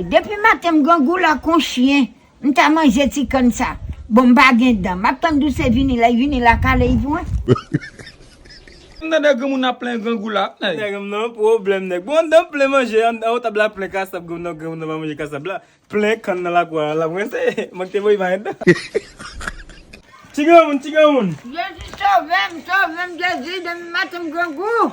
Depi maten m grangou la kon chyen m ta manje ti kann sa bon m pa gen dan map tann douse vini lèy vini la kale y pwan. M tande granmoun ap plen grangou la wi nèg. Nèg nan pwoblèm nèg. Bon andan plen manje anwo tab la plen kasab granmoun nan granmoun nan pa manje kasab la plen kann nan lakwa lap rense manke voye pa gen dan. Ti granmoun ti granmoun. Jezi sovem sovem jezi depi maten m grangou.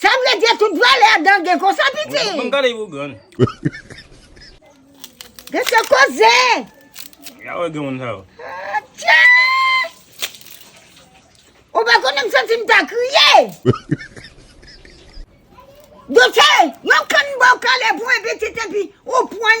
Sa vle di tout valè a dan gen konsa piti. Mwen m gade yo gran. Gen se koze. Ya wè gen moun sa yo. Atye. Ou pa konnen m santi m ta kriye. Doche, yon kann baw kale pou enpiti epi ou pwan